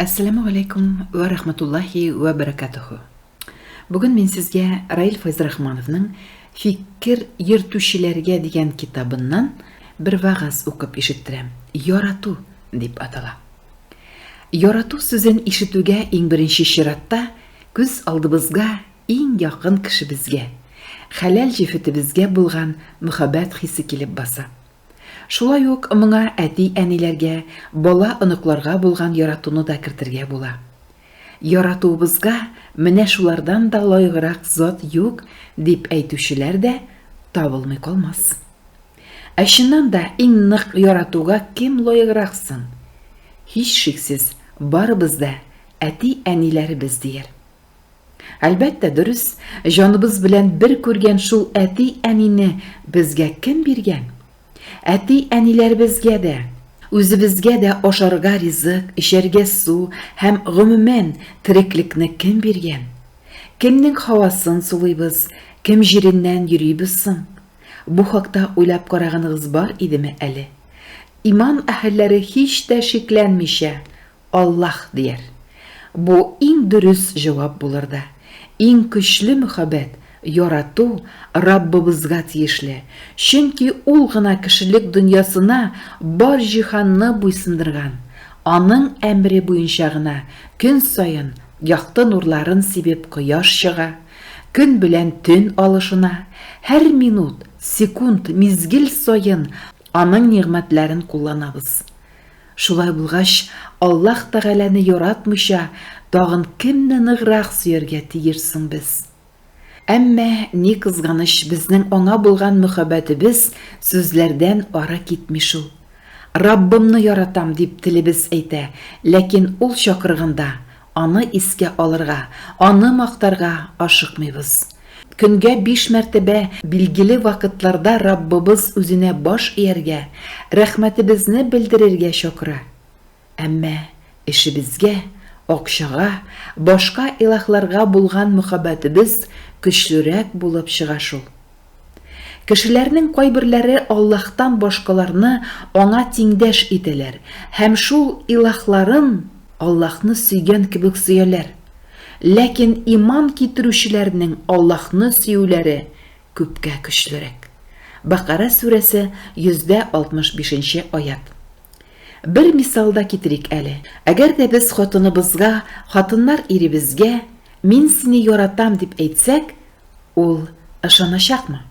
Әссәламү галәйкүм вә рахматуллаһи вә бәрәкәтүһү. Бүген мин сезгә Раил Файзрахмановның Фикер йөртүчеләргә дигән китабыннан бер вагаз укып ишеттерәм. Ярату дип атала. Ярату сүзен ишетүгә иң беренче чиратта күз алдыбызга иң якын кешебезгә, хәләл җефетебезгә булган мөхәббәт хисе килеп баса. Шулай ук моңа әти-әниләргә, бала-оныкларга булган яратуны да кертергә була. Яратуыбызга менә шулардан да лаеграк зат юк, дип әйтүчеләр дә табылмый калмас. Ә чыннан да иң нык яратуга кем лаеграк соң? Һичшиксез, барыбыз да әти-әниләребез, дияр. Әлбәттә, дөрес, җаныбыз белән бер күргән шул әти-әнине безгә кем биргән? Әти-әниләребезгә дә, үзебезгә дә ашарга ризык, эчәргә су һәм, гомумән, тереклекне кем биргән? Кемнең һавасын сулыйбыз, кем җиреннән йөрибез соң? Бу хакта уйлап караганыгыз бар идеме әле? Иман әһелләре һич тә шикләнмичә, Аллаһ, дияр. Бу иң дөрес җавап булыр да. Иң көчле мөхәббәт, ярату Раббыбызга тиешле, чөнки Ул гына кешелек дөньясына бар җиһанны буйсындырган, Аның әмере буенча гына көн саен якты нурларын сибеп кояш чыга, көн белән төн алышына, һәр минут, секунд, мизгел саен Аның нигъмәтләрен кулланабыз. Шулай булгач, Аллаһ Тәгаләне яратмыйча, тагын кемне ныграк сөяргә тиеш соң без? Әмма, ни кызганыч, безнең Аңа булган мөхәббәтебез сүзләрдән ары китми шул. Раббымны яратам, дип телебез әйтә, ләкин Ул чакырганда, Аны искә алырга, аны мактарга ашыкмыйбыз. Көнгә биш мәртәбә билгеле вакытларда Раббыбыз үзенә баш ияргә, рәхмәтебезне белдерергә чакыра. Әмма эшебезгә, акчага, башка илаһларга булган мөхәббәтебез көчлерәк булып чыга шул. Кешеләрнең кайберләре Аллаһтан башкаларны Аңа тиңдәш итәләр һәм шул илаһларын Аллаһны сөйгән кебек сөяләр. Ләкин иман китерүчеләрнең Аллаһны сөюләре күпкә көчлерәк. Бәкарә сүрәсе 165 нче аять. Бер мисал да китерик әле. Әгәр дә без хатыныбызга, хатыннар иребезгә, Мин сине яратам, дип әйтсәк, ул ышаначакмы?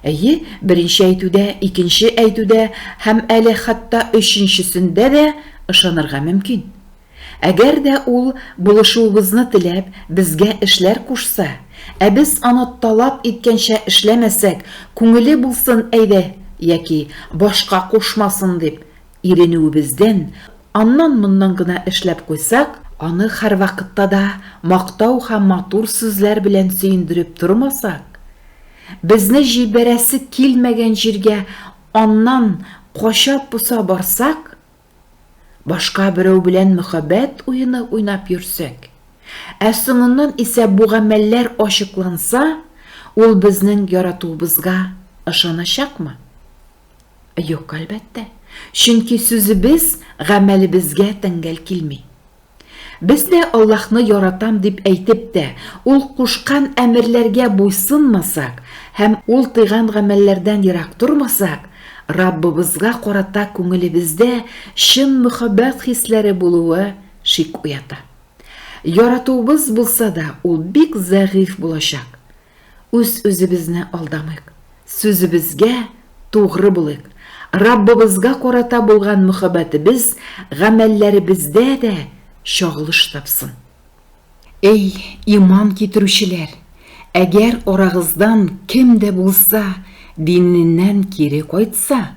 Әйе, беренче әйтүдә, икенче әйтүдә һәм әле хәтта өченчесендә дә ышанырга мөмкин. Әгәр дә ул, булышуыбызны теләп, безгә эшләр кушса, ә без аны талап иткәнчә эшләмәсәк, күңеле булсын әйдә яки башка кушмасын дип иренүебездән, аннан-моннан гына эшләп куйсак, аны һәрвакытта да мактау һәм матур сүзләр белән сөендереп тормасак, безне җибәрәсе килмәгән җиргә аннан кача-поса барсак, Башка берәү белән мөхәббәт уены уйнап йөрсәк, ә соңыннан исә бу гамәлләр ачыкланса, ул безнең яратуыбызга ышаначакмы? Юк, әлбәттә, чөнки сүзебез гамәлебезгә тәңгәл килми. Без дә Аллаһны яратам дип әйтеп тә, Ул кушкан әмерләргә буйсынмасак һәм Ул тыйган гамәлләрдән ерак тормасак, Раббыбызга карата күңелебездә чын мөхәббәт хисләре булуы шик уята. Яратуыбыз булса да, ул бик зәгыйфь булачак. Үз-үзебезне алдамыйк, сүзебезгә тугры булыйк. Раббыбызга карата булган мөхәббәтебез гамәлләребездә дә чагылыш тапсын. Эй, иман китерүчеләр, әгәр арагыздан кем дә булса диненнән кире кайтса,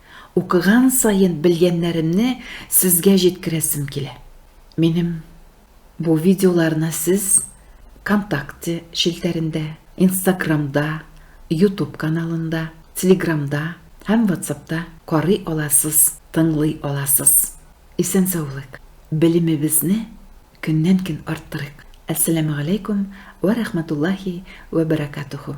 Укыган саен белгәннәремне сезгә җиткерәсем килә. Минем бу видеоларны сез Вконтакте челтәрендә, Инстаграмда, Ютуб каналында, Телеграмда һәм Ватсапта карый аласыз, тыңлый аласыз. Исән-саулык, белемебезне көннән-көн арттырыйк. Әссәламегаләйкүм вә рәхмәтуллаһи вә бәрәкатүһү.